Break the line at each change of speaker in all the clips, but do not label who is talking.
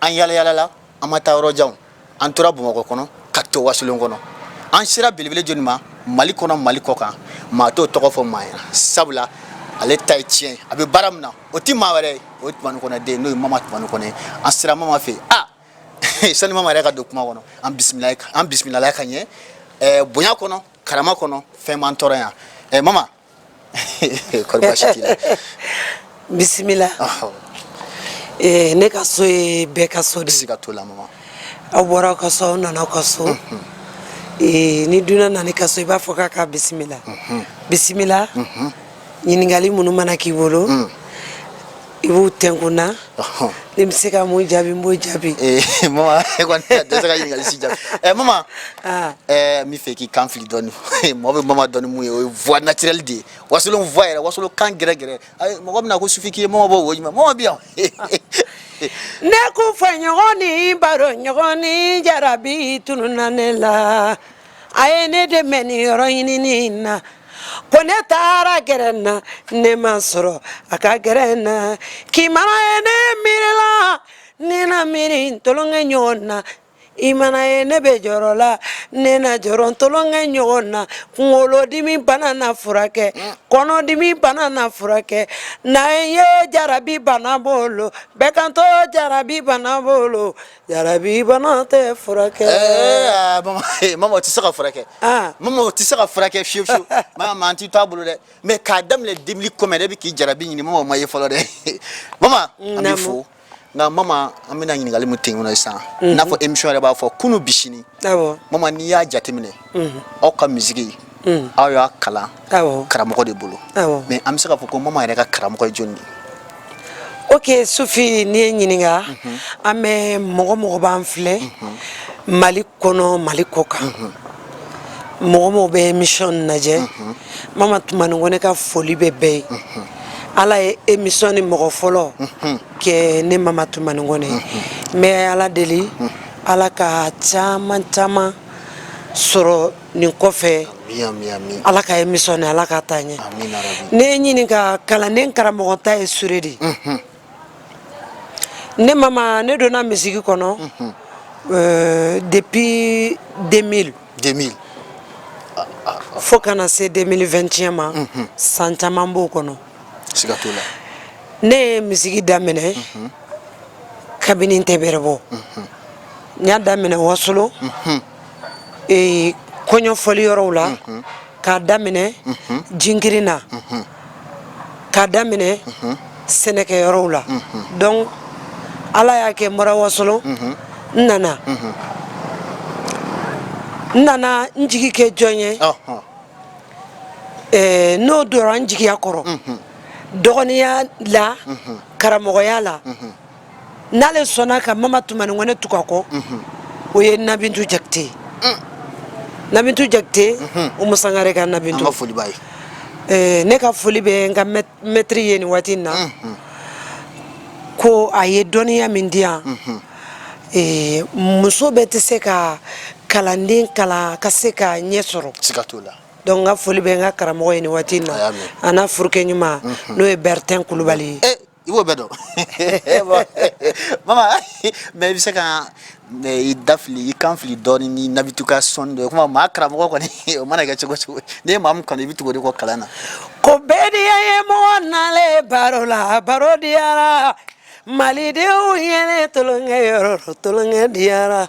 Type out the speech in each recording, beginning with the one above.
an yalayalala an ma taa yɔrɔ jan an tora bamakɔ kɔnɔ ka to wasolon kɔnɔ an sera belebele jɔni ma mali kɔnɔ mali kɔ kan maa t'o tɔgɔ fɔ maa ɲɛna sabula ale ta ye tiɲɛ a bɛ baara min na o tɛ maa wɛrɛ ye o ye tumani kɔnɛ den n'o ye mama tumani kɔnɛ ye an sera mama fɛ yen a sani mama yɛrɛ ka don kuma kɔnɔ an bisimila an bisimilala ka ɲɛ bonya kɔnɔ karama kɔnɔ fɛn m'an tɔɔrɔ yan mama kɔri baasi t'i la bisimila ɔhɔ Eh, ne ka so ye bɛɛ ka so de ye. siga t'o la mama aw bɔra aw ka so aw nana aw ka so Eh, ni dunan nana i ka so i b'a fɔ k'a k'a bisimila bisimila ɲininkali minnu mana k'i bolo i b'u kɛ n kun na n bɛ se ka min jaabi n b'o jaabi eh, mama e kɔni tɛ se ka ɲininkali si jaabi ɛ eh, mama ah. eh, n b'a fɛ i k'i kan fili dɔɔni mɔgɔ bɛ mama dɔn ni min ye o ye voix naturelle de ye wasolon voix yɛrɛ wasolon kan gɛrɛ gɛrɛ mɔgɔ bɛna ko sufi k'i ye mama b'o wo ɲuman mama bɛ yan ne kun fɔ ɲɔgɔn ni baro ɲɔgɔn ni jarabi tununna ne la a ye ne dɛmɛ ni yɔrɔ ɲinini na ko ne taara gɛrɛn na ne m'a sɔrɔ a ka gɛrɛn na k'i mana ye ne miiri la ne na miiri tolonkɛ ɲɔgɔn na i mana ye ne bɛ jɔrɔ la ne na jɔrɔ tolonkɛ ɲɔgɔn na kunkolodimi bana na furakɛ kɔnɔdimi bana na furakɛ na ye jarabi bana bolo bɛɛ kantɔ jarabi bana bolo jarabi bana tɛ furakɛ mama tɛ se ka furakɛ mama tɛ se ka furakɛ fewu fewu maa tɛ t'a bolo dɛ mɛ k'a daminɛ deux mille combien de bɛ k'i jarabi ɲini mɔgɔ m'a ye fɔlɔ dɛ mama an b'i fo nka mama an bɛna ɲininkali min tɛ kɔnɔ sisan n'a fɔ emisiyɔn yɛrɛ b'a fɔ kunun bi sini mama n'i y'a jateminɛ aw ka misigi aw y'a kalan karamɔgɔ de bolo mɛ an bɛ se k'a fɔ ko mama yɛrɛ ka karamɔgɔ ye jɔnni ye ok sufi n'i ye n ɲininka mhm. an bɛ mɔgɔ o mɔgɔ b'an filɛ mhm. mali kɔnɔ mali kɔ kan mhm. mɔgɔ o mɔgɔ bɛ emisiyɔn lajɛ mama tumani kɔnɛ ka foli bɛ bɛɛ ye ala ye emisiyɔn ni mɔgɔ fɔlɔ kɛ ne mama tumani kɔnɛ n bɛ ala deli ala ka caman caman sɔrɔ nin kɔfɛ ala ka emisiyɔn ala k'a taa ɲɛ n'i ye n ɲininka kalanden karamɔgɔ ta ye sure de ne mama ne donna misigi kɔnɔ depi 2000 fo ka na se 2022 ma san caman b'o kɔnɔ ne ye misigi daminɛ kabini n tɛ bɛrɛ bɔ n y'a daminɛ wasolo ee kɔɲɔfɔli yɔrɔw la k'a daminɛ jinkirin na k'a daminɛ sɛnɛkɛ yɔrɔw la donc ala y'a kɛ n bɔra wasolo n nana n nana n jigi kɛ jɔn ye eh, n'o dora n jigiya kɔrɔ dɔgɔninya la karamɔgɔya la n'ale sɔnna ka mama tumani kɔnɛ tugu a kɔ mhm. o ye nabintu jakite ye mm. nabintu jakite mhm. umu sangare ka nabintu eh, ne ka foli bɛ n ka mɛtiri ye nin waati in na mhm. ko a ye dɔnniya min di yan eh, muso bɛɛ tɛ se ka kalanden kalan ka se ka ɲɛ sɔrɔ siga t'o la donc n ka foli bɛ n ka karamɔgɔ ye nin waati in na a n'a furukɛ ɲuman n'o ye bertin kulubali ye eh, I b'o bɛɛ dɔn mama mais i bɛ se ka i da fili i kan fili dɔɔnin ni nabintu ka son dɔ o maa karamɔgɔ kɔni o mana kɛ cogo o cogo n'i ye maa min kanu i bɛ tugu o de kɔ kalan na ko bɛɛ diya ye mɔgɔ na baro la baro diyara malidenw ye tulonkɛ yɔrɔ tulonkɛ diyara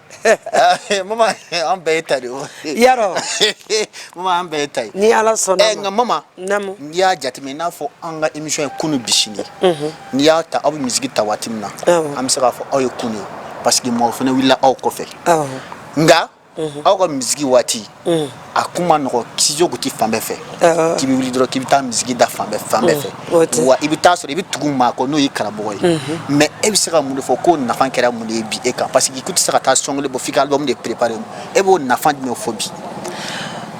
Eh, mama an bɛɛ y'e ta de o yarɔ mama an bɛɛ y'e ta ye ni ala sɔnna eh, nka mama naamu n'i y'a jateminɛ i n'a fɔ an ka émission ye kunu bi sini mhm. n'i y'a ta aw bɛ misiki ta waati min na an bɛ se k'a fɔ aw ye kunu ye parce que mɔgɔ fana wulila aw kɔfɛ nka mhm. aw ka misiki waati mm. a kun man nɔgɔ studio kun ti fan bɛɛ fɛ k'i bɛ wuli dɔrɔn k'i bɛ taa misiki da fan bɛɛ fan bɛɛ mm. fɛ wa i bɛ taa sɔrɔ i bɛ tugu maa kɔ n'o ye karamɔgɔ ye mm-hmm. mais e bɛ se ka mun de fɔ k'o nafa kɛra mun de ye bi e kan parce que i kun tɛ se ka taa single bɔ f'i ka album de préparer e b'o nafa jumɛn fɔ bi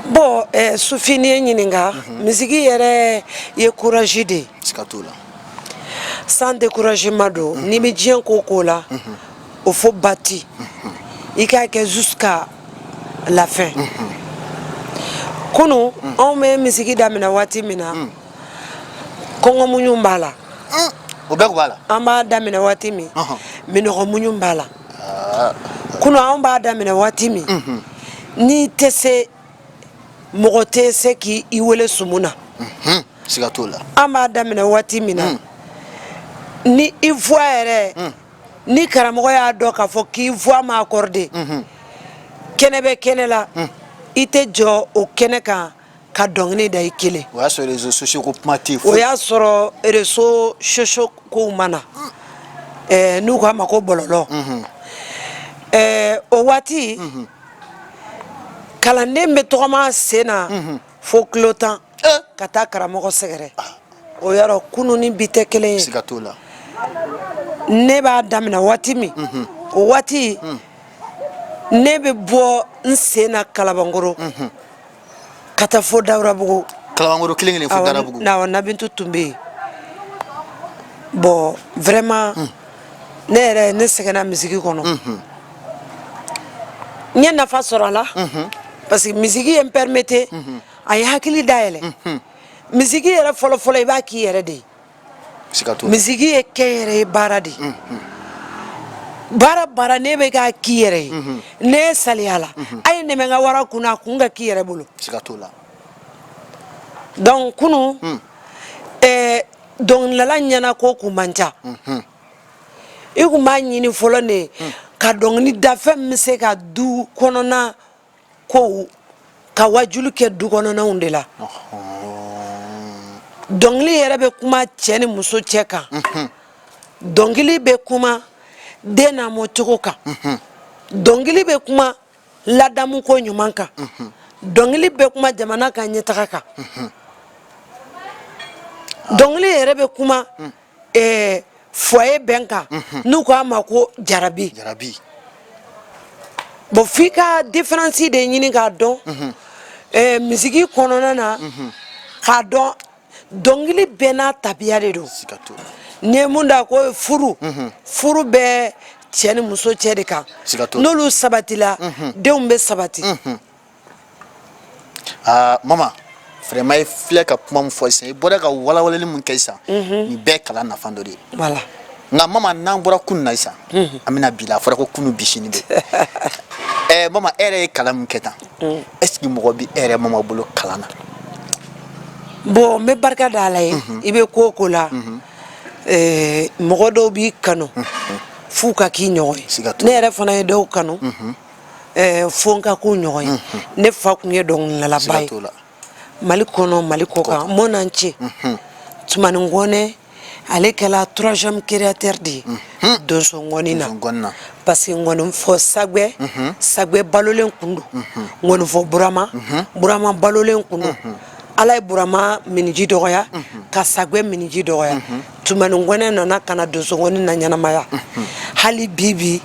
bon eh, sufi n'i ye n ɲininka mm-hmm. misiki yɛrɛ ye courage de ye siga t'o la sans découragement don mm-hmm. n'i bɛ diɲɛ ko o ko la o fo bati i k'a kɛ jusqu'à la fin kunu anw bɛ misiki daminɛ waati min na kɔngɔ muɲu b'a la o bɛɛ tun b'a la an b'a daminɛ waati min minnɔgɔ muɲu b'a la kunu anw b'a daminɛ waati min n'i tɛ se mɔgɔ tɛ se k'i i wele sumu na siga t'o la an b'a daminɛ waati min na ni i voix yɛrɛ ni karamɔgɔ y'a dɔn k'a fɔ k'i voix ma accorder mhm. kɛnɛ bɛ kɛnɛ la mhm. i tɛ jɔ o kɛnɛ kan ka dɔnkili da i kelen o y'a sɔrɔ réseaux sociaux ko kuma tɛ yen o y'a sɔrɔ réseaux sociaux kow ma na eh, n'u k'a ma ko bɔlɔlɔ mhm. eh, o waati kalanden bɛ tɔgɔma sen na fo kilo tan ka taa karamɔgɔ sɛgɛrɛ ah. o yɔrɔ kunun ni bi tɛ kelen ye siga t'o la ne b'a daminɛ waati min mhm. o waati mm. ne bɛ bɔ n sen na kalabankɔrɔ mhm. ka taa fo dawudabugu kalabankɔrɔ kelen kelen fo dawudabugu awɔ nabintu tun bɛ yen bon vraiment mm. ne yɛrɛ ne sɛgɛnna misiki kɔnɔ mhm. n ye nafa sɔrɔ a la parce que misiki ye n permettre a ye hakili dayɛlɛ mhm. misiki yɛrɛ fɔlɔfɔlɔ i b'a k'i yɛrɛ de ye misiki ye kɛnyɛrɛye baara de ye mhm. baara baara n'i bɛ k'a k'i yɛrɛ ye mhm. ne ye saliya la a ye nɛmɛ ka wara kun na a kun ka k'i yɛrɛ bolo donc kunu hmm. eh, dɔnkilidala ɲɛnako kun man ca i kun b'a ɲini fɔlɔ ne hmm. ka dɔnkili da fɛn min bɛ se ka du kɔnɔna kow ka waajulu kɛ du kɔnɔnaw de la dɔnkili yɛrɛ bɛ kuma cɛ ni muso cɛ kan mhm. dɔnkili bɛ kuma den lamɔcogo kan mhm. dɔnkili bɛ kuma ladamuko ɲuman kan mhm. dɔnkili bɛ kuma jamana ka ɲɛtaga kan dɔnkili yɛrɛ bɛ kuma ɛɛ foyer bɛn kan mhm. n'u ko a ma ko jarabi jarabi bon f'i ka différence de ɲini k'a dɔn mhm. ɛɛ misiki kɔnɔna na mhm. k'a dɔn dɔnkili bɛɛ n'a tabiya de don n'i ye min da ko furu furu bɛ cɛ ni muso cɛ de kan n'olu sabatila denw bɛ sabati. aa mama vraiment i filɛ ka kuma min fɔ sisan i bɔra ka walawalali min kɛ sisan nin bɛɛ kalan nafa dɔ de ye voilà nka mama n'an bɔra kunu na sisan an bɛna bi la a fɔra ko kunu bi sini bɛ ɛɛ mama e yɛrɛ ye kalan min kɛ tan est ce que mɔgɔ bɛ e yɛrɛ mama bolo kalan na bon n bɛ barika da ala ye i bɛ ko o ko la ɛɛ mɔgɔ dɔw b'i kanu f'u ka k'i ɲɔgɔn ye Siga t'o la. ne yɛrɛ fana ye dɔw kanu ɛɛ fo n ka k'u ɲɔgɔn ye ne fa tun ye dɔnkilidalaba ye siga t'o la mali kɔnɔ mali kɔkan mɔnan ce tumani kɔnɛ ale kɛla troisième créateur de ye donso ngɔni na Donso ngɔni na. parce que ngɔninfɔ sagwɛ sagwɛ balolen kun don ngɔninfɔ burama burama balolen kun don ala ye burama minniji dɔgɔya ka sagwɛ minniji dɔgɔya tumani kɔnɛ nana ka na donso ngɔni naɲɛnamaya hali bi bi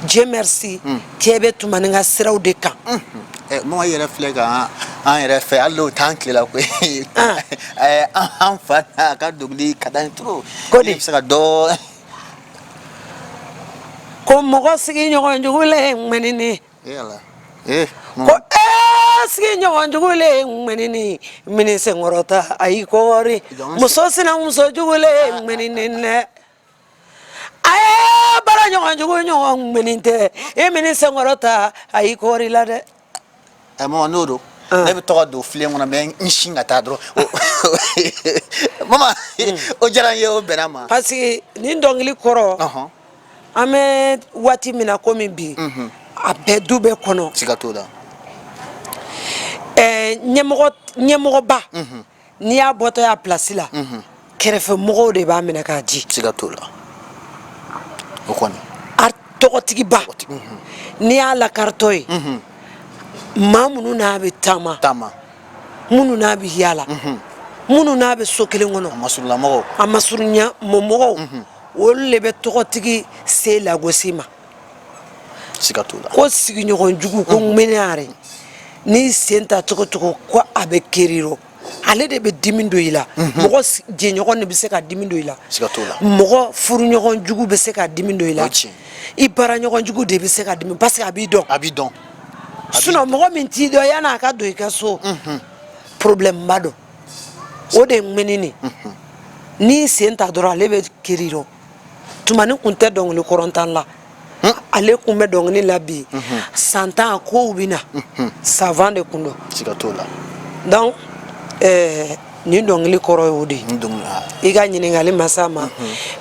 dieu merci cɛ bɛ tumani ka siraw de kan mɔgɔ yɛrɛ filɛ kan an yɛrɛ fɛ hali tan tilela ko an fa ka dugutigi ka taa to ko de bɛ se ka dɔn ko mɔgɔ sigiɲɔgɔn jugu le ye mɛn ne Eh, ko ee sigiɲɔgɔn jugu le ye ŋɛnini min n'i sen kɔrɔta a y'i kɔɔri muso sinamuso jugu le ye ŋɛnini dɛ a ye baaraɲɔgɔn jugu ɲɔgɔn ŋɛni tɛ e min n'i sen kɔrɔta a y'i kɔɔri la dɛ ɛ mama n'o don ne bɛ tɔgɔ don filen kɔnɔ mɛ n sin ka taa dɔrɔn mama o diyara n ye o bɛnna n ma parce que nin dɔnkili kɔrɔ an bɛ waati min na komi bi a bɛ du bɛɛ kɔnɔ siga t'o la ɲɛmɔgɔba n'i y'a bɔtɔ y'a plasi la kɛrɛfɛmɔgɔw de b'a minɛ k'a ji siga t'o la o kɔni a tɔgɔtigiba n'i y'a lakaritɔ ye maa minnu n'a bɛ taama taama minnu n'a bɛ yaala minnu n'a bɛ so kelen kɔnɔ a masurulamɔgɔw a masurunya mɔgɔw olu de bɛ tɔgɔtigi se lagosi ma siga t'o la ko sigiɲɔgɔn jugu ko ŋmɛnɛyare n'i sen ta cogo o cogo ko a bɛ kar'i rɔ ale de bɛ dimi don i la mɔgɔ s- jɛɲɔgɔn de bɛ se ka dimi don i la siga t'o la mɔgɔ furuɲɔgɔn jugu bɛ se ka dimi don i la O ye tiɲɛ. i baaraɲɔgɔn jugu de bɛ se ka dimi parce que a b'i dɔn a b'i dɔn sinon mɔgɔ min t'i dɔn yan'a ka don i ka so problème ba don o de ye ŋɛni de n'i sen ta dɔrɔn ale bɛ kar'i rɔ tumani kun tɛ dɔnkili kɔrɔntan la ale kun bɛ dɔnkili la bi san tan kow bɛ na savan de kun don siga t'o la donc ɛɛ nin dɔnkili kɔrɔ y'o de ye i ka ɲininkali ma s'a ma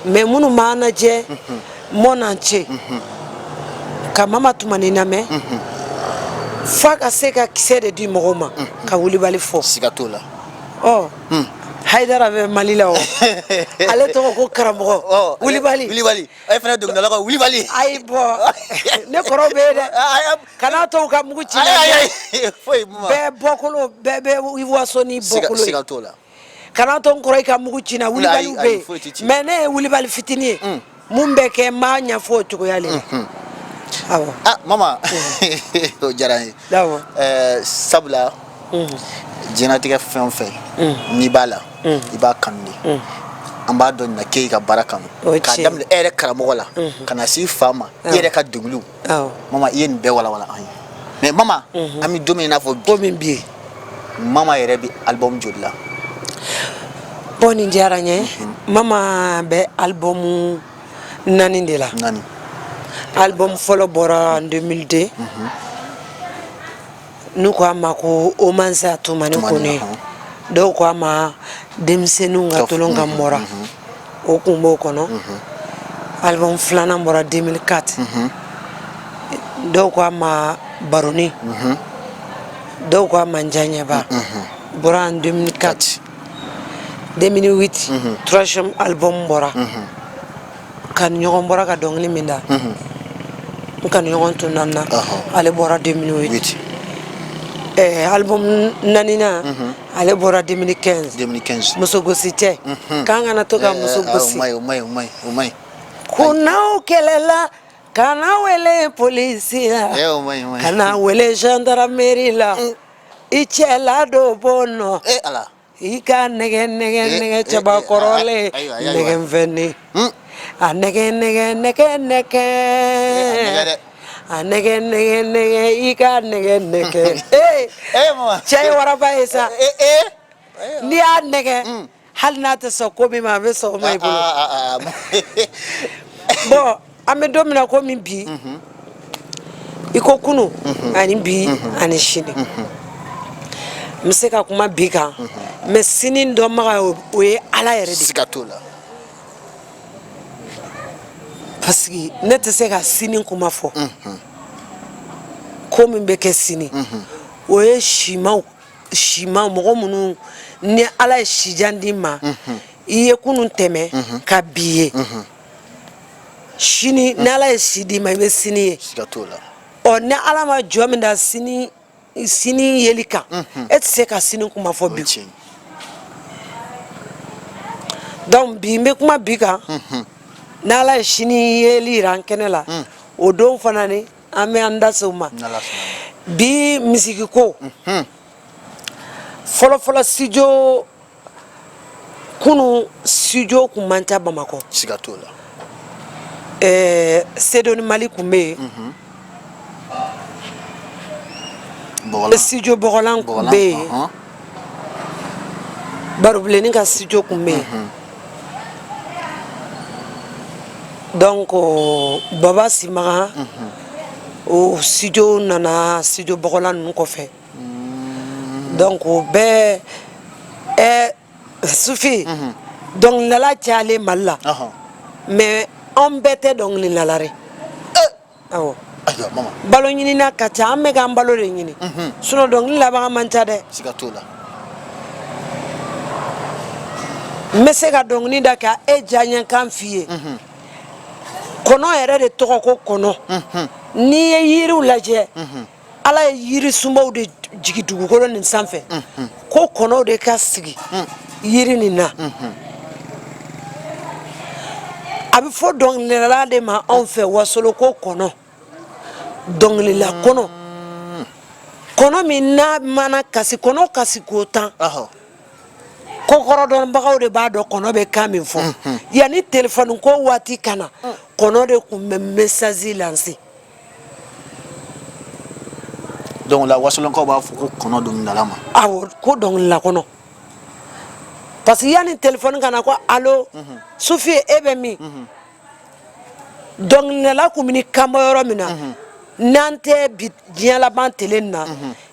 mais minnu b'an lajɛ mɔna n ce ka mama tumani lamɛn f'a ka se ka kisɛ de di mɔgɔw ma ka wulibali fɔ siga t'o la ɔ hayidara bɛ mali la o ale tɔgɔ ko karamɔgɔ Ɔ, wulibali wulibali e fana dɔnkilidala ka wulibali ayi bon ne kɔrɔw bɛ yen dɛ Ayi, ayi. kana to u ka mugu ci ayi ayi ayi foyi ma bɛɛ bɔkolo bɛɛ bɛ waso ni siga bɔkolo ye siga t'o la kana to n kɔrɔ i ka mugu ci n na wulibaliw bɛ yen mais ne ye wulibali fitinin ye mm. mun bɛ kɛ n b'a ɲɛfɔ o cogoya le la mm-hmm. awɔ ah mama mm. o diyara n ye awɔ eh, sabula mm. diɲɛnatigɛ fɛn o fɛn n'i b'a la i b'a kanu de an b'a dɔn nin na k'e ka baara kanu k'a daminɛ e yɛrɛ karamɔgɔ la mm-hmm. ka na s'i fa ma e yɛrɛ ka denkuluw mama i ye nin bɛɛ walawala an ye mais mama mhm. an bɛ don min n'a fɔ ko min bɛ yen mama yɛrɛ bɛ album joli la bon nin diyara n ye mhm. mama bɛ album naani de la naani album fɔlɔ bɔra en 2002 mhm. n'u ko a ma ko hommage à tumani kɔnɛ dɔw ko a ma denmisɛnnin ka tulon ka mora o tun b'o kɔnɔ alibɔmu filanan bɔra deux mille quatre dɔw ko a ma baronin dɔw ko a ma n diyaɲɛba bɔra en deux mille quatre deux mille huit troisième alibɔmu bɔra kanuɲɔgɔn bɔra ka dɔnkili min da n kanuɲɔgɔn tun nana ale bɔra deux mille huit alibɔmu naaninan ale bɔra deux mille quinze musogosi cɛ k'an kana to ka muso gosi ko n'aw kɛlɛla kan'a wele polisi la kan'a wele zandaramari la i cɛ la dɔ bɔ nɔ i ka nɛgɛ nɛgɛ eh, nɛgɛ eh, cɛba eh, kɔrɔlen nɛgɛ fɛnni hmm? a nɛgɛ nɛgɛ nɛgɛ nɛgɛ a nɛgɛ nɛgɛ nɛgɛ i ka nɛgɛ nɛgɛ cɛ ye waraba ye sa n'i y'a nɛgɛ hmm. hali n'a tɛ sɔn ko min ma a bɛ sɔn o ma i bolo ah, ah, ah, bon an bɛ don min na ko min bi i ko kunun ani bi ani sini n bɛ se ka kuma bi kan mais sini dɔnbaga o ye ala yɛrɛ de siga t'o la parce que ne tɛ se ka sini kuma fɔ ko min bɛ kɛ sini o ye simaw simaw mɔgɔ minnu ni ala ye sijan d'i ma i ye kunun tɛmɛ ka bi ye sini ni ala ye si d'i ma i bɛ sini ye siga t'o la ɔ ni ala ma jɔn min da sini sini yeli kan e tɛ se ka sini kuma fɔ bi tiɲɛ donc bi n bɛ kuma bi kan ni ala ye sini yeli jira an kɛnɛ la o don fana ni an bɛ an da se o ma n'ala sɔnna bi mizikiko fɔlɔfɔlɔ studio kunun studio kun man ca bamakɔ siga t'o la ɛɛ sedoni mali kun bɛ yen mhm. studio bɔgɔlan kun bɛ yen uh-huh. barobilenni ka studio kun bɛ yen mhm. donc baba simaga mhm. o studio nana studio bɔgɔlan ninnu kɔfɛ donc bɛɛ ɛ sufi dɔnkilidala cayalen mali la mais an bɛɛ tɛ dɔnkilidala dɛ awɔ balo ɲinina ka ca an bɛ k'an balo de ɲini sinon dɔnkili labaga man ca dɛ n bɛ se ka dɔnkili da ka e diyaɲɛkan f'i ye kɔnɔ yɛrɛ de tɔgɔ ko kɔnɔ n'i ye yiriw lajɛ ala ye yirisunbaw de jigi dugukolo nin sanfɛ ko kɔnɔw de ka sigi yiri nin na a bɛ fɔ dɔnkilidala de ma anw fɛ wasolon ko kɔnɔ dɔnkilila kɔnɔ kɔnɔ min n'a mana kasi kɔnɔ kasi ko tan kokɔrɔdɔnbagaw de b'a dɔn kɔnɔ bɛ kan min fɔ yanni telefɔni ko waati ka na kɔnɔ de tun bɛ mesasi lanse donc la wasolonkaw b'a fɔ ko kɔnɔ dɔnkilidala ma awɔ ko dɔnkilila kɔnɔ parce que yanni telefɔni ka na ko alo mhm. sufi e bɛ min mhm. dɔnkilidala kun bɛ n'i kan bɔ yɔrɔ min na mhm. n'a tɛ bi diɲɛ laban tele nin na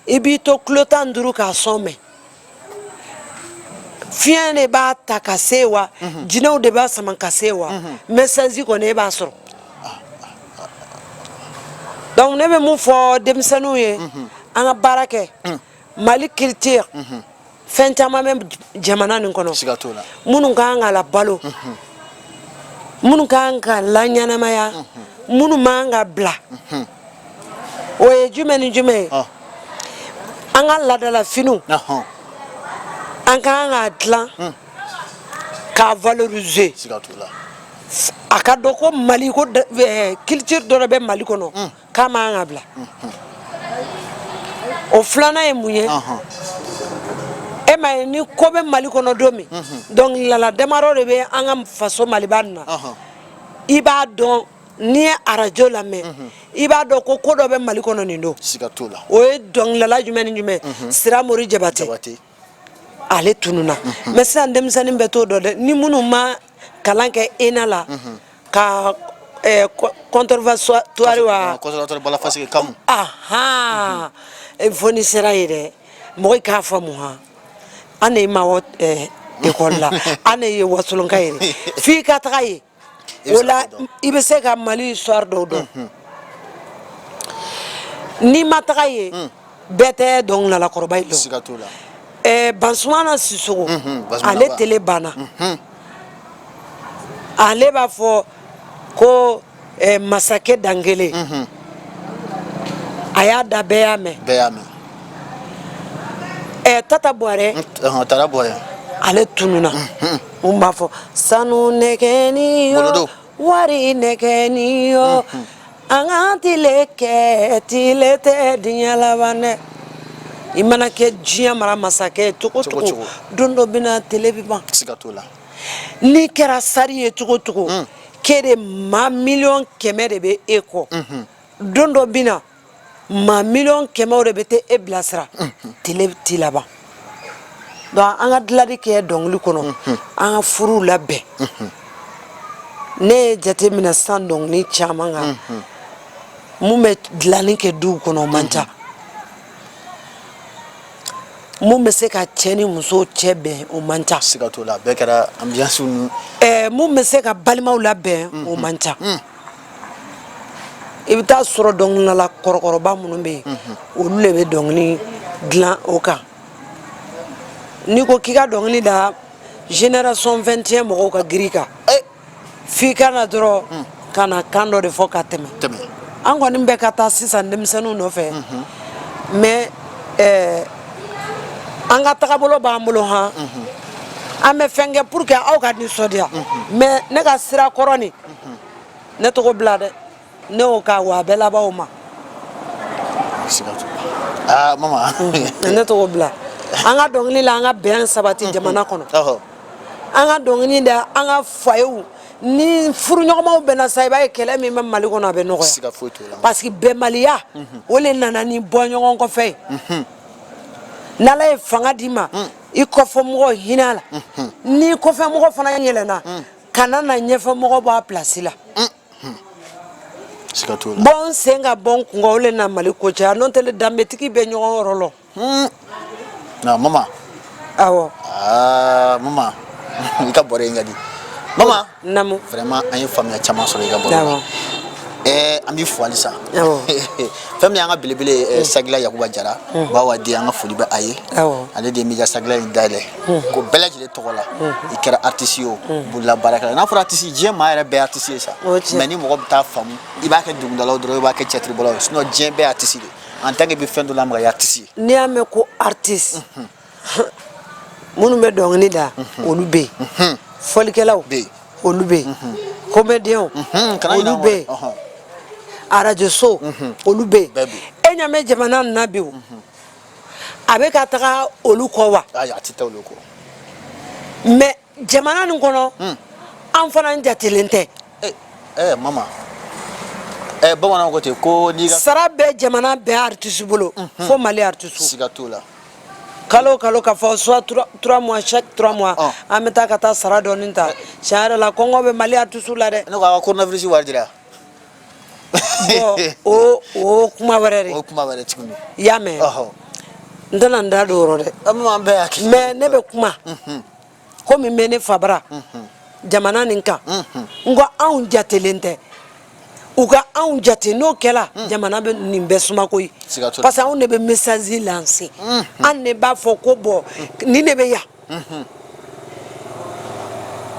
i b'i to kilo tan ni duuru k'a son mɛn fiɲɛ de b'a ta ka se wa mhm. jinɛw de b'a sama ka se wa mhm. mesasi kɔni e b'a sɔrɔ donc ne bɛ mun fɔ denmisɛnninw ye mhm. an ka baara kɛ mali culture fɛn caman bɛ jamana nin kɔnɔ minnu ka kan ka labalo minnu ka kan ka laɲɛnamaya minnu man kan ka bila o ye jumɛn ni jumɛn ye an ka laadalafiniw an ka kan k'a dilan hmm. k'a valoriser a ka dɔn ko mali ko eh, culture dɔ de bɛ mali kɔnɔ hmm. k'a man kan ka bila hmm, o filanan ye mun ye e m'a ye ni ko bɛ mali kɔnɔ don min dɔnkilidala damadɔ de bɛ an ka faso maliba nin na i b'a dɔn n'i ye arajo lamɛn mhm. i b'a dɔn ko ko dɔ bɛ mali kɔnɔ nin don o ye dɔnkilala jumɛn ni jumɛn mhm. siramori jabate ale tununna mhm. mɛ sisan denmisɛnnin bɛɛ t'o dɔn dɛ ni minnu ma kalan kɛ ina la ka eh, conservatoire wa ahan eh, fo n'i sera yen dɛ mɔgɔ k'a faamu han an de ye mawɔ eh, ekɔli la an de ye wasolonka ye f'i ka taga yen o la i bɛ se ka mali histoire dɔw dɔn n'i ma taga yen bɛɛ tɛ dɔnkililakɔrɔba ye dɔn bansumana sisɔkɔ ale tele banna ale b'a fɔ ko masakɛ dankelen a y'a da bɛɛ y'a mɛn ɛ tata bɔrɛ ale tununna min b'a fɔ sanu nɛgɛnin yo wari nɛgɛnin yo an ka tile kɛ tile tɛ diɲɛ laban dɛ i mana kɛ diɲɛ mara masakɛ ye cogo cogo don dɔ bɛ na tile bɛ ban n'i kɛra star ye cogo cogo ke de maa miliyɔn kɛmɛ de bɛ e kɔ don dɔ bɛ na maa miliyɔn kɛmɛw de bɛ taa e bilasira tele ti laban donc an ka dilali kɛ dɔnkili kɔnɔ an ka furuw labɛn ne ye jate minɛ sisan dɔnkili caman kan mun bɛ dilanni kɛ duw kɔnɔ o man ca mun bɛ se ka cɛ ni muso cɛ bɛn o man ca siga t'o la bɛɛ kɛra ambiance ni mun bɛ se ka balimaw labɛn o man ca i bɛ taa sɔrɔ dɔnkilidala kɔrɔkɔrɔba minnu bɛ yen olu de bɛ dɔnkili dilan o kan n'i ko k'i ka dɔnkili da génération 21 mɔgɔw ka girin i kan eh! f'i ka na dɔrɔn hmm. ka na kan dɔ de fɔ ka tɛmɛ an kɔni bɛ ka taa sisan denmisɛnninw nɔfɛ mhm. mais eh, an ka tagabolo b'an bolo han mhm. an bɛ fɛn kɛ pour que aw ka nisɔndiya mhm. mais ne ka sira kɔrɔ nin ne tɛ k'o bila dɛ ne b'o kan wa a bɛ laban o ma ah, mama mm. ne t'o bila an ka dɔnkili la an ka bɛn sabati mm-hmm. jamana kɔnɔ an ka dɔnkili da an ka foyerw ni furuɲɔgɔnmaw bɛnna sa i b'a ye kɛlɛ min bɛ mali kɔnɔ a bɛ nɔgɔya parce que bɛnbaliya mm-hmm. o le nana ni bɔ ɲɔgɔn kɔfɛ ye mm-hmm. n'ala ye fanga d'i ma mm. i kɔfɛ mɔgɔ hinɛ a la n'i kɔfɛ mɔgɔ fana yɛlɛnna kana na ɲɛfɛmɔgɔ bɔ a pilasi la bɔ n sen kan bɔ n kun kan o le na mali ko caya n'o tɛ le danbetigi bɛ ɲɔgɔn yɔrɔ lɔn ah mama awɔ ah, mama i ka bɔrɛ in ka di mama namu vraiment an ye faamuya caman sɔrɔ i ka bɔrɛ la eh, an b'i fo halisa fɛn min y'an ka belebele eh, mm. sagila yakuba jara mm. bawa di an ka foli bɛ a ye ale de ye m'i ka sagila in dayɛlɛ ko bɛɛ lajɛlen tɔgɔ la i kɛra artiste ye o bololabaarakɛla n'a fɔra artiste diɲɛ maa yɛrɛ bɛɛ artiste ye sa mais ni mɔgɔ bɛɛ t'a faamu i b'a kɛ dɔnkilidalaw dɔrɔn i b'a kɛ tiyatiribɔlaw ye sinon diɲɛ bɛɛ artiste de en tant que i bɛ fɛn dɔ la mɔgɔ ye artiste ye n'i y'a mɛn ko artiste minnu bɛ dɔnkili da olu bɛ yen fɔlikɛlaw bɛ yen olu bɛ yen komɛdiyɛnw olu bɛ yen arajoso olu bɛ yen e y'a mɛn jamana nin na bi o a bɛ ka taga olu kɔ wa a tɛ taa olu kɔ mais jamana nin kɔnɔ hmm. an fana jatelen tɛ eh, eh, mama eh, bamananw ko ten ko n'i ka sara bɛ jamana bɛɛ artisi bolo hmm, hmm. fo mali artisiw siga t'o la kalo o kalo ka fɔ soit trois mois chaque trois mois ah. an bɛ taa ka taa sara dɔɔni ta tiɲɛ yɛrɛ la kɔngɔ bɛ mali artisiw la dɛ ne ko a ka coronavirus wari dira o o kuma wɛrɛ de o kuma wɛrɛ tuguni i y'a mɛn n tɛna n da don o rɔ dɛ mɛ ne bɛ kuma mhm. komi n bɛ ne fabara mhm. jamana nin kan mhm. n ko anw jatelen tɛ u ka anw jate n'o kɛra hmm. jamana bɛ nin bɛɛ suma koyi parce que anw de bɛ message lancer hmm. an de b'a fɔ ko bɔn hmm. nin de bɛ yan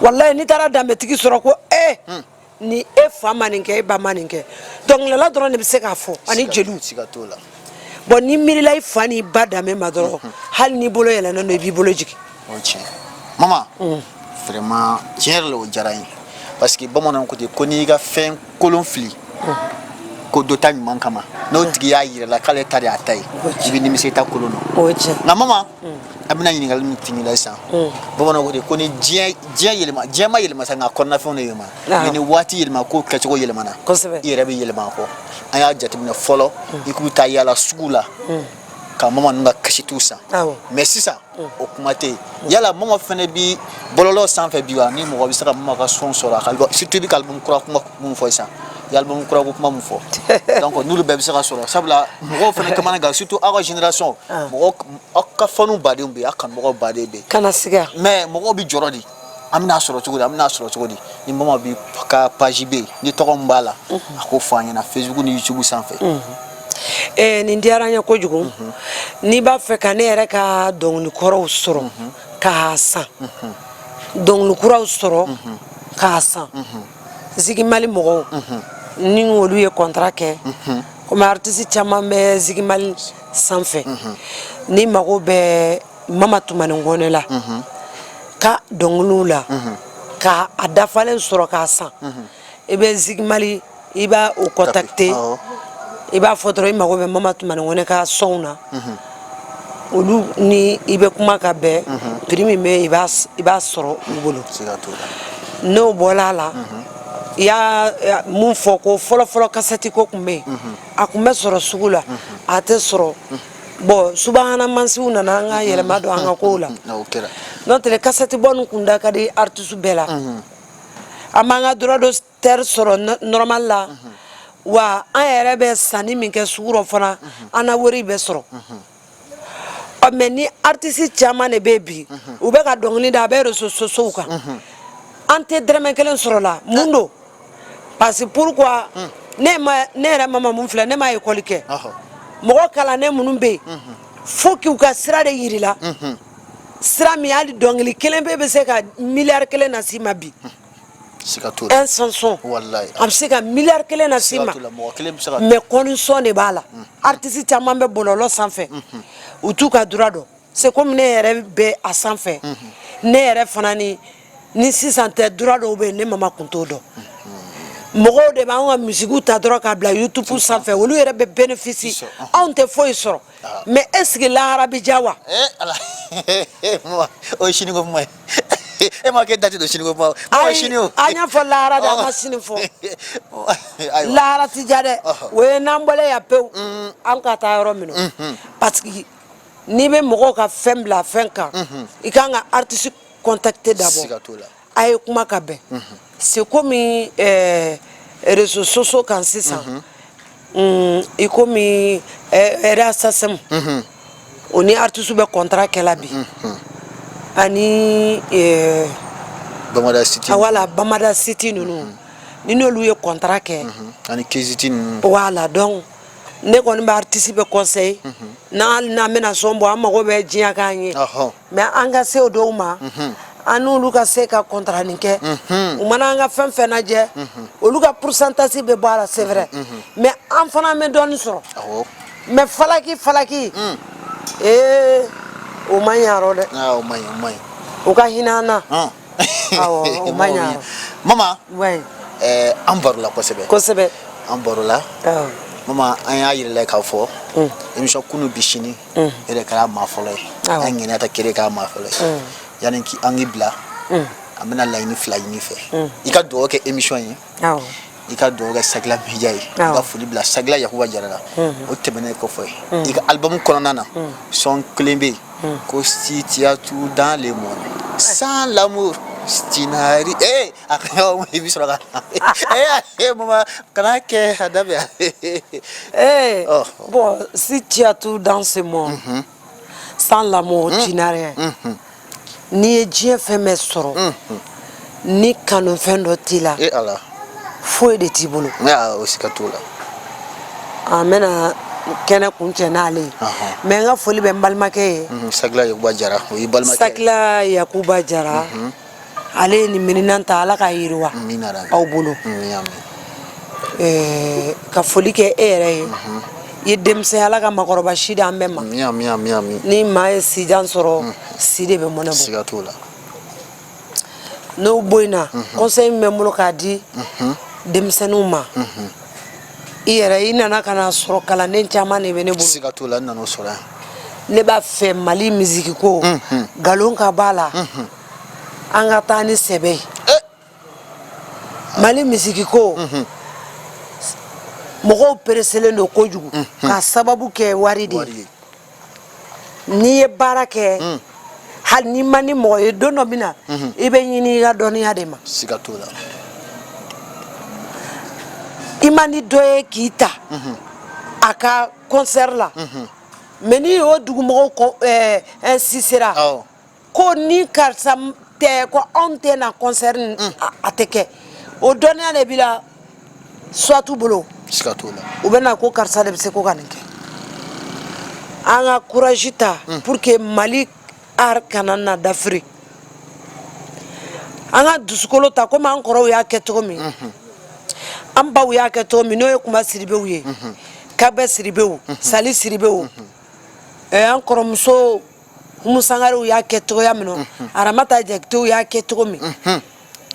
walayi n'i taara danbetigi sɔrɔ ko ee eh, ni e fa ma nin kɛ e ba ma nin kɛ dɔnkilidala dɔrɔn de bɛ se k'a fɔ ani jeliw bɔn n'i miirila i fa n'i ba danbe ma dɔrɔn mhm. hali n'i bolo yɛlɛnnen don i b'i bolo jigin o tiɲɛ mama mm. vraiment tiɲɛ yɛrɛ la o diyara n ye parce que bamananw ko ten ko n'i ka fɛn kolon fili mm. ko dɔ ta ɲuman kama n'o tigi y'a yira i la k'ale ta de y'a ta ye i bɛ nimisa i ta kolon na nka mama a bɛna ɲininkali min timi la sisan bamananw de ko ni diɲɛ yɛlɛma diɲɛ ma yɛlɛma sa nka kɔnɔnafɛnw de yɛlɛma mɛ ni waati yɛlɛma ko kɛcogo yɛlɛmana i yɛrɛ bɛ yɛlɛma kɔ an y'a jateminɛ fɔlɔ i tun bɛ taa yaala sugu la ka mama ninnu ka kasɛtiw san mɛ sisan o kuma tɛ yen yala mama fana bɛ bɔlɔlɔ sanfɛ bi wa ni mɔgɔ bɛ se ka mama ka sɔn sɔrɔ a kasɛti bɛ ka kura kuma minnu fɔ sisan i ye album kura ko kuma min fɔ donc n'olu bɛɛ bɛ se ka sɔrɔ sabula mɔgɔw fana kamanagan surtout aw ka génération ah. mɔgɔ aw ka faniw badenw bɛ yen aw kanubagaw baden bɛ yen kana siga mais mɔgɔw bɛ jɔrɔ di an bɛna sɔrɔ cogo di an bɛna sɔrɔ cogo di ni mama bi ka page bɛ yen ni tɔgɔ min b'a la mhm. a k'o fɔ an ɲɛna facebook ni youtube sanfɛ mhm. eh, nin diyara n ye kojugu mhm. n'i b'a fɛ ka ne yɛrɛ ka dɔnkili kɔrɔw sɔrɔ k'a san dɔnkili kuraw sɔrɔ k'a san zikmali mɔgɔw ni olu ye kɔntara kɛ kɔmi aritisi caman bɛ zikmali sanfɛ n'i mago bɛ mama tumani kɔnɛ la ka dɔnkiliw la ka a dafalen sɔrɔ k'a san i bɛ zikmali i b'a o contacter i b'a fɔ dɔrɔn i mago bɛ mama tumani kɔnɛ ka sɔnw na olu ni i bɛ kuma ka bɛn prix min bɛ i b'a sɔrɔ u bolo n'o bɔra a la i ye min fɔ ko fɔlɔfɔlɔ kasɛti ko tun bɛ yen a tun bɛ sɔrɔ sugu la a tɛ sɔrɔ bɔn subaga na mansinw nana an ka yɛlɛma don an ka kow la n'o tɛ kasɛti bɔ nin kun da ka di artiste bɛɛ la an b'an ka droit d'au teur sɔrɔ nɔrɔmali la wa an yɛrɛ bɛ sanni min kɛ sugu rɔ fana an na wari bɛ sɔrɔ mɛ ni aritisi caman de bɛ bi u bɛ ka dɔnkili da a bɛ réseaux sociaux kan an tɛ dɔrɔmɛ kelen sɔrɔ a la mun don parce que pourquoi ne yɛrɛ mama min filɛ ne ma ekɔli kɛ mɔgɔ kalannen minnu bɛ yen fo k'u ka sira de jira i la sira min hali dɔnkili kelen bɛ bɛ se ka miliyari kelen nase i ma bi sɔn a bɛ se ka mi kelen na se ma mɛ kɔnsɔn de b'a la aritisi caman bɛ bɔlɔlɔ sanfɛ u t'u ka droit dɔn c'est comme ne yɛrɛ bɛ a sanfɛ ne yɛrɛ fana ni ni sisan tɛ droit dɔw bɛ ne mama tun t'o dɔn mɔgɔw de b'an ka miziki ta dɔrɔn k'a bila yutubu sanfɛ olu yɛrɛ bɛ benefisiye anw tɛ foyi sɔrɔ mɛ est-ce que lahara bɛ diya wa e ma kɛ dati don siniko kuma ayi siniko an y'a fɔ lahara de an ma sini fɔ lahara tɛ diya dɛ o ye n'an bɔla yan pewu mm. an ka taa yɔrɔ min mm-hmm. parce que n'i bɛ mɔgɔw ka fɛn bila fɛn kan mm-hmm. i kan ka artiste contacter d'abord a ye kuma ka bɛn mm-hmm. c'est comme euh, réseaux sociaux kan sisan mm -hmm. i komi RHHM o ni artiste bɛ contrat kɛla bi mm -hmm. ani euh, Bamada City ah, voilà Bamada City ninnu mm -hmm. ni n'olu ye contrat kɛ mm -hmm. ani Keyzit ninnu voilà donc ne kɔni bɛ aritisi bɛɛ kɔnseye n'an n'an bɛna sɔn bɔ an mago bɛ diɲɛ k'an ye mɛ an ka se o dɔw ma an n'olu ka se ka kɔntaranin kɛ u mana an ka fɛn fɛn lajɛ olu ka pursantazi bɛ bɔ a la c'est vrai mɛ an fana bɛ dɔɔnin sɔrɔ mɛ falaki falaki ee o man ɲi dɛ o ka hinɛ an na mama eh, an barola kosɛbɛ kosɛbɛ an barola mama an y'a yira i la k'a fɔ mm. émission kunu bi sini mm. e de kɛra maa fɔlɔ ye an ŋaniya ta k'e de k'a maa fɔlɔ ye mm. yanni an k'i bila an bɛna laɲini fila ɲini i fɛ i ka dugawu kɛ émission ye i ka dugawu kɛ sakila mediya ye i ka foli bila sakila yakuba jara la o tɛmɛnen kɔfɛ i ka alibamu kɔnɔna na sɔn kelen bɛ yen ko si tu as tout dans le monde sans l'amour tu n'as rien a i bɛ sɔrɔ ee mama kana kɛ a daminɛ ee bon si tu as tout dans ce monde sans l'amour tu n'as rien n'i ye diɲɛ fɛn bɛɛ sɔrɔ ni kanufɛn dɔ t'i la e ala foyi de t'i bolo o siga t'o la an bɛna kɛnɛ kuncɛ n'ale ye mɛ n ka foli bɛ n balimakɛ ye sakila yakuba jara o ye balimakɛ sakila yakuba jara ale ye nin mininan ta ala k'a yiriwa a bolo ka foli kɛ e yɛrɛ ye i ye denmisɛn ala ka maakɔrɔba si di an bɛɛ ma ni maa ye sijan sɔrɔ si de bɛ mɔnɛ bɔ n'o bɔ in na kɔnsɛyi min bɛ n bolo k'a di denmisɛnninw ma i yɛrɛ i nana ka na sɔrɔ kalanden caman de bɛ ne bolo ne b'a fɛ mali mizikiko nkalon ka b'a la an ka taa ni sɛbɛ ye eh. mali misiki ko mhm. mɔgɔw pereselen don kojugu mhm. k'a sababu kɛ wari de ye n'i ye baara kɛ mm. hali n'i man di mɔgɔ ye don dɔ min na mhm. i bɛ ɲini i ka dɔnniya de ma siga t'o la i man di dɔ ye k'i ta a ka concert la mais ni o dugumɔgɔw eh, insistera ko ni karisa tɛ ko anw tɛ na concert mm. a tɛ kɛ o dɔnniya de b'i la soit t'u bolo siga t'o la u bɛ na ko karisa de bɛ se ko ka nin kɛ an ka courage ta mm. pour que mali art kana na dafiri an ka dusukolo ta komi an kɔrɔw y'a kɛ cogo min mm-hmm. an baw y'a kɛ cogo min n'o ye kunba siribew ye mm-hmm. kagbɛ siribew mm-hmm. sali siribew eh, an kɔrɔmuso umu sangarew y'a kɛ cogoya min na mhm. aramata jakitew y'a kɛ cogo min mhm.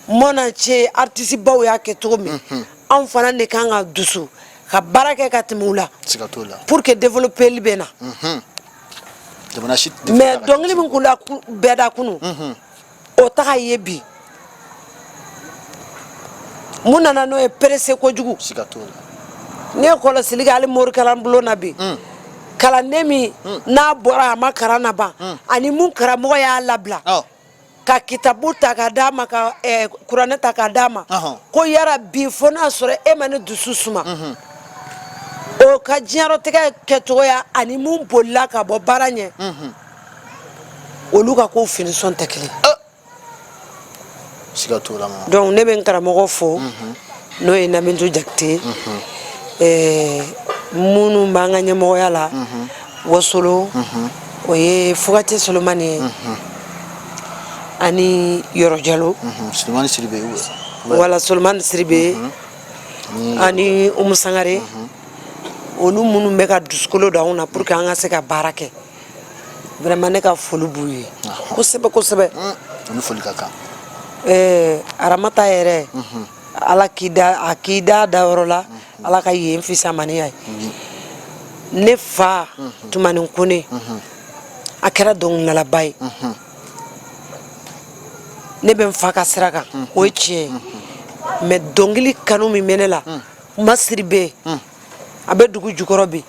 mon ancien artisi baw y'a kɛ cogo min mhm. anw fana de kan ka dusu ka baara kɛ ka tɛmɛ u la pour que développeli bɛ na mais dɔnkili min kun da bɛ da kunu o tɛ ka ye bi mun nana n'o ye perese kojugu ne ye kɔlɔsili kɛ hali morikalan bulon na bi mm. kalanden min mm. n'a bɔra a ma kalan laban mm. ani mun karamɔgɔ y'a labila oh. ka kitabu ta ka d'a ma ka eh, kuranɛ ta ka d'a ma uh-huh. ko yarabi fo n'a sɔrɔ e ma ne dusu suma mm-hmm. o ka diɲɛlatigɛ kɛcogoya ani mun bolila ka bɔ baara ɲɛ mm-hmm. olu ka ko finition tɛ kelen siga t'o la ma donc ne bɛ n karamɔgɔ fo mhm. n'o ye nabintu jakite mhm. eh, minnu b'an ka ɲɛmɔgɔya la mhm. wasolo o ye fugate solomani ye ani yɔrɔ jalo solomani siribe voilà solomani siribe ani umu sangare olu minnu bɛ ka dusukolo don anw na pour que an ka se ka baara kɛ vraiment ne ka foli b'u ye kosɛbɛ kosɛbɛ olu foli ka kan aramata yɛrɛ ala k'i da a k'i da dayɔrɔ la ala ka yen fisamaniya ye ne fa tumani kɔnɛ a kɛra dɔnkilidalaba ye ne bɛ n fa ka sira kan o ye tiɲɛ ye mais dɔnkili kanu min bɛ ne la ma siribe yen a bɛ dugu jukɔrɔ bi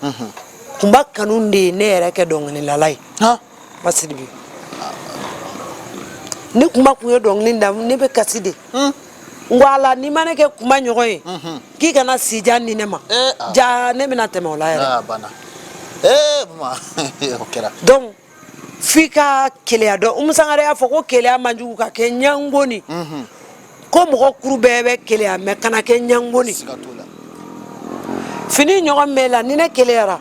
kunba kanu de ye ne yɛrɛ kɛ dɔnkililala ye ma sidibe ni kunba tun ye dɔnkili da ne bɛ kasi de n ko ala n'i ma ne kɛ kunba ɲɔgɔn ye k'i kana sijan di ne ma jaa ne bɛna tɛmɛ o la yɛrɛ kɛra f'i ka keleya dɔn umu sangare y'a fɔ ko keleya man jugu ka kɛ ɲango ni ko mɔgɔ kuru bɛɛ bɛ keleya mais kana kɛ ɲango ni siga t'o la fini ɲɔgɔn b'i la ni ne keleyara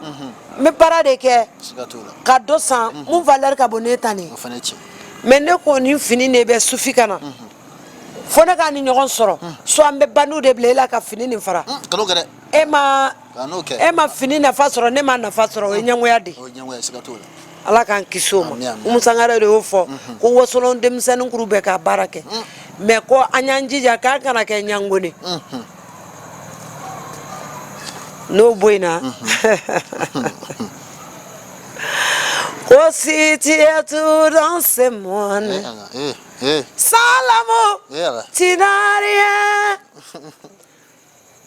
n bɛ baara de kɛ siga t'o la ka dɔ san mun valeur ka bon ne ta ni o fana ye tiɲɛ mais ne ko nin fini de bɛ sufi kan na fo ne ka nin ɲɔgɔn sɔrɔ soit n bɛ bandiw de bila e la ka fini nin fara kan'o kɛ dɛ e ma e ma fini nafa sɔrɔ ne ma nafa sɔrɔ o ye ɲɛngoya de ala k'an kisi o ma umu sangare de y'o fɔ mhm. ko wasolon denmisɛnnin kuru bɛɛ ka baara kɛ mm. mais ko an y'an jija k'an kana kɛ ɲango ni mhm. n'o bɔ in na mhm. ko si tu as tout dans ce monde eh, eh, eh. sans l'amour tu n'as rien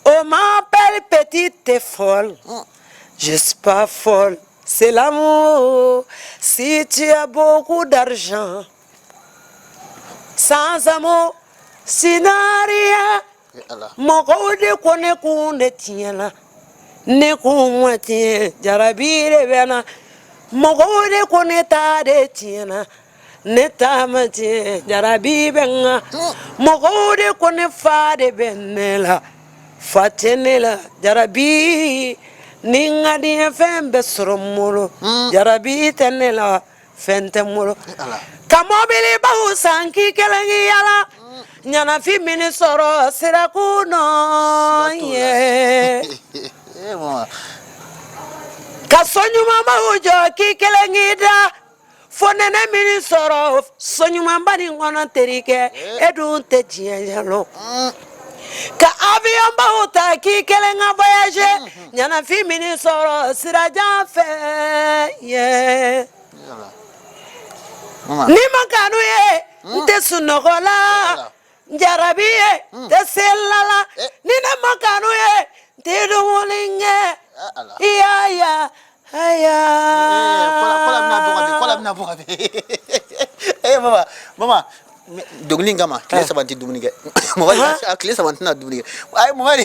Oh ma belle petite, t'es folle. Mm. Je suis pas folle, c'est l'amour. Si tu as beaucoup d'argent, sans amour, tu n'as rien. mɔgɔw de ko ne kun de tiɲɛna ne kun ma tiɲɛ jarabi de bɛ n na mɔgɔw de ko ne ta de tiɲɛna ne ta ma tiɲɛ jarabi bɛ n na mɔgɔw de ko ne fa de bɛ ne la fa tɛ ne la jarabi ni n ka diɲɛ fɛn bɛɛ sɔrɔ n bolo jarabi tɛ ne la fɛn tɛ n bolo ka mɔbilibaw san k'i kelen k'i yala ɲanafin bɛn'i sɔrɔ sirakun nɔ yen ka so ɲumanbaw jɔ k'i kelen k'i da fo nɛnɛ bɛn'i sɔrɔ so ɲumanba nin kɔnɔ terikɛ e dun tɛ diyanye lɔn ka avionbaw ta k'i kelen ka voyager ɲɛnafin bɛn'i sɔrɔ sirajan fɛ yen ni n ma kanu ye n tɛ sunɔgɔ la n jarabi ye hmm. tɛ se la la eh. ni ne ma kanu ye n tɛ dumuni kɛ eh, i y'a ya aya kɔla bɛna bɔ ka bin kɔla bɛna bɔ ka bin ee eh, mama mama dɔnkili in kama tile saba n tɛ dumuni kɛ mɔgɔ tile saba n tɛna dumuni kɛ ayi mɔgɔ de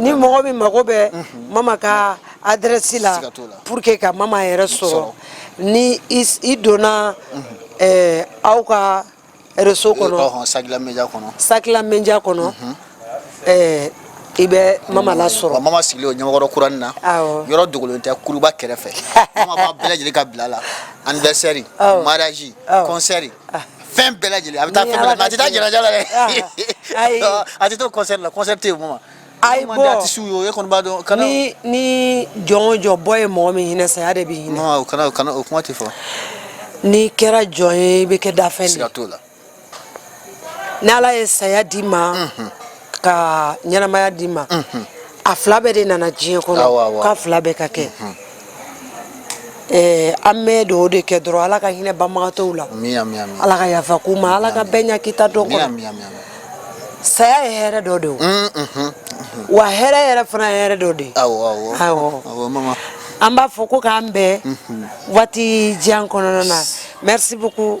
ni mɔgɔ min mago bɛ mhm. mama ka adrɛsi la pour que ka mama yɛrɛ sɔrɔ ni i donna mhm. eh, aw ka réseau kɔnɔ sakila media kɔnɔ sakila media kɔnɔ mhm. eh, i bɛ mama lasɔrɔ mama sigilen don ɲamakɔrɔ kurani na yɔrɔ dogolen tɛ kuluba kɛrɛfɛ mama b'a bɛɛ lajɛlen ka bil'a la anniversaire mariage concert Ah. fɛn bɛɛ lajɛlen a bɛ taa fɛn bɛɛ la a tɛ taa janaja la dɛ a tɛ to concert la concert tɛ yen o ma ayi bɔ artiste ye o e kɔni b'a dɔn kana ni ni jɔn o jɔn bɔ ye mɔgɔ min hinɛ saya de b'i hinɛ non o kana o kana o kuma tɛ fɔ n'i kɛra jɔn ye i bɛ kɛ danfɛn de ye siga t'o la n'ala ye saya d'i ma ka ɲɛnamaya d'i ma a fila bɛɛ de nana diɲɛ kɔnɔ k'a fila bɛɛ ka kɛ Eh, an bɛ dugawu de kɛ dɔrɔn ala ka hinɛ banbagatɔw la ala ka yafa k'u ma ala ka bɛɛ ɲa k'i taa don kɔnɔ saya ye hɛrɛ dɔ de o mm, mhm, mhm. wa hɛrɛ yɛrɛ fana ye hɛrɛ dɔ de awɔ an b'a fɔ ko k'an bɛn mhm. waati jan kɔnɔna na merci beaucoup